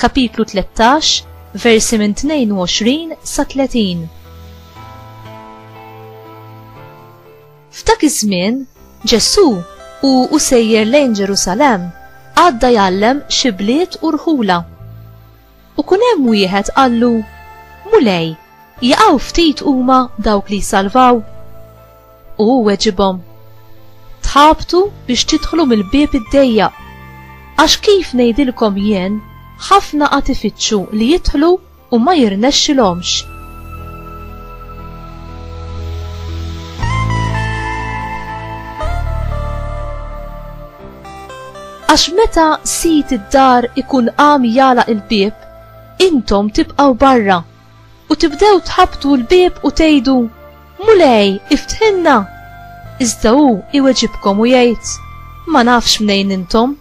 Kapitlu 13, versi minn 22 sa 30. F'dak iż-żmien, Ġesù u u sejjer lejn Ġerusalem għadda jgħallem xi bliet u rħula. U kun hemm wieħed qallu, Mulej, jaqgħu ftit huma dawk li jsalvaw? U hu weġibhom, Tħabtu biex tidħlu mill-bieb id-dejjaq. Għax kif ngħidilkom jien, ħafna qad ifittxu li jidħlu u ma jirnexxilhomx. Għax meta sid id-dar ikun qam jala il-bieb, intom tibqgħu barra u tibdew tħabbtu l-bieb u tgħidu, Mulej, iftħilna! Iżda hu jweġibkom u jgħid, Ma nafx mnejn intom.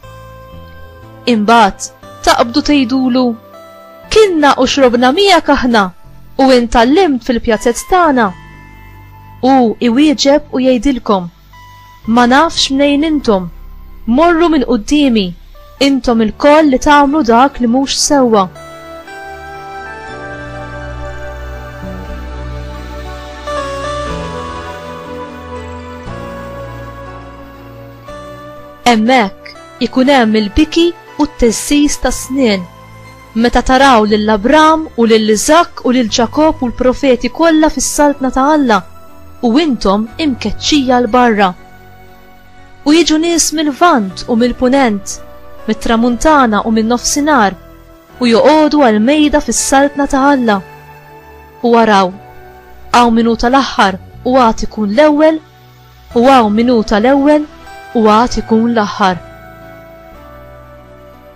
Imbagħad taqbdu tgħidulu, Kilna u xrobna miegħek aħna u int għallimt fil-pjazez tagħna. Hu jwieġeb u jgħidilkom, Ma nafx mnejn intom! Morru minn quddiemi, intom ilkoll li tagħmlu dak li mhux sewwa! Hemmhekk ikun hemm il-biki u t-teżżiż tas-snien. Meta taraw lil Abram u lil Iżakk u lil Ġakobb u l-profeti kollha fis-Saltna ta' Alla, u intom imkeċċija 'l barra. U jiġu nies mil-Lvant u mill-Punent, mit-Tramuntana u min-Nofsinhar, u joqogħdu għall-mejda fis-Saltna ta' Alla. U araw, hawn min hu tal-aħħar u għad ikun l-ewwel, u hawn min hu tal-ewwel u għad ikun l-aħħar.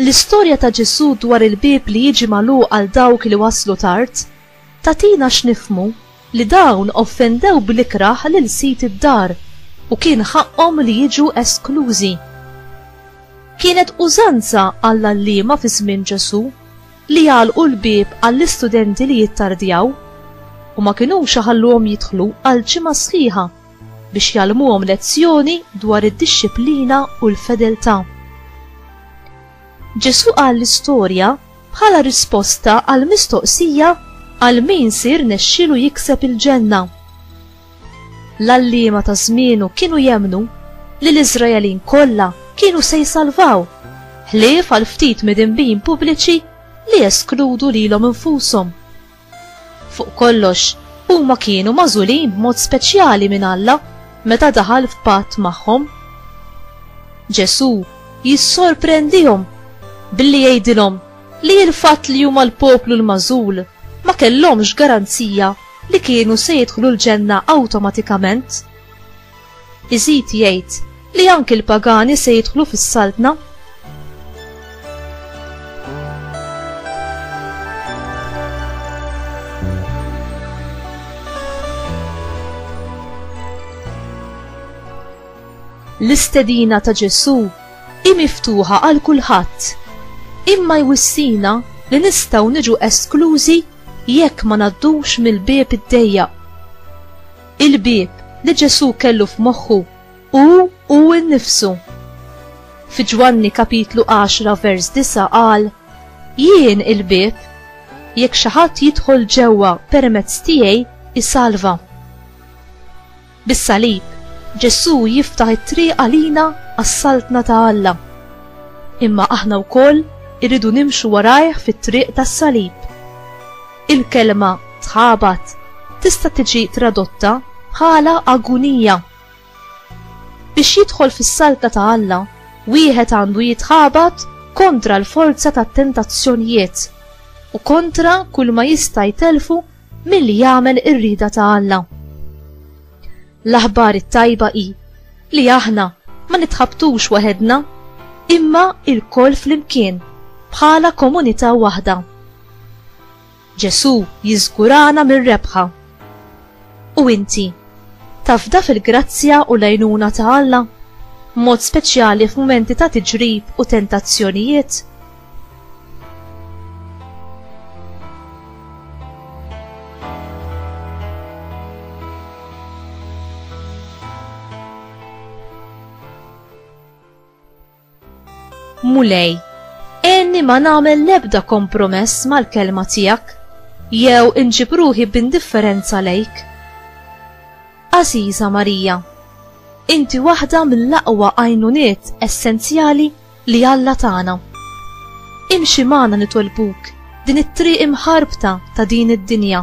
L-istorja ta' Ġesù dwar il-bieb li jiġi magħluq għal dawk li waslu tard, tagħtina x'nifhmu li dawn offendew bl-ikrah lil sid id-dar u kien ħaqqhom li jiġu esklużi. Kienet użanza għall-għalliema fi żmien Ġesù li jagħlqu l-bieb għall-istudenti li jittardjaw u ma kinux iħalluhom jidħlu għal ġimgħa sħiħa. biex jgħallmuhom lezzjoni dwar id-dixxiplina u l-fedeltà. Ġesù qal l-istorja bħala risposta għal mistoqsija għal min sir nexxilu jikseb il-ġenna. L-allima ta' żmienu kienu jemnu li l-Iżraelin kollha kienu se jsalvaw, ħlief għal ftit midinbin pubbliċi li eskludu lilhom infushom. Fuq kollox, huma kienu magħżulin b'mod speċjali minn Alla meta daħal f'patt magħhom. Ġesù jissorprendihom billi jgħidilhom li l-fatt li huma l-poplu l-magħżul ma kellhomx garanzija li kienu se jidħlu l-ġenna awtomatikament. Iżid jgħid li anki l-pagani se jidħlu fis-Saltna. L-istedina ta' Ġesù hi miftuħa għal kulħadd. Imma jwissina li nistgħu niġu esklużi jekk ma ngħaddux mill-bieb id-dejjaq. Il-bieb li Ġesù kellu f'moħħu hu hu nnifsu. Fi Ġwanni kapitlu 10 vers 9 qal, Jien il-bieb, jekk xi ħadd jidħol ġewwa permezz tiegħi isalva. Bis-salib, Ġesù jiftaħ it-triq għalina għas-saltna ta' Alla. Imma aħna wkoll irridu nimxu warajh fit-triq tas-salib. Il-kelma tħabat tista' tiġi tradotta bħala agunija. Biex jidħol fis-saltna ta' Alla, wieħed għandu jitħabat kontra l-forza tat-tentazzjonijiet u kontra kulma jista' jtellfu milli jagħmel ir-rieda ta' Alla. L-aħbar it-tajba hi li aħna ma nitħabtux waħedna imma lkoll flimkien bħala komunità waħda. Ġesù jiżgurana mir-rebħa. U inti, tafda fil-grazzja u l-għajnuna ta' Alla, b'mod speċjali f'mumenti ta' tiġrib u tentazzjonijiet? Mulej, enni ma nagħmel l-ebda kompromess mal-kelma tiegħek, jew inġib ruħi b'indifferenza lejk. Aziza Marija, inti waħda mill-aqwa għajnuniet essenzjali li Alla tagħna. Imxi magħna nitolbuk din it-triq imħarbta ta' din id-dinja.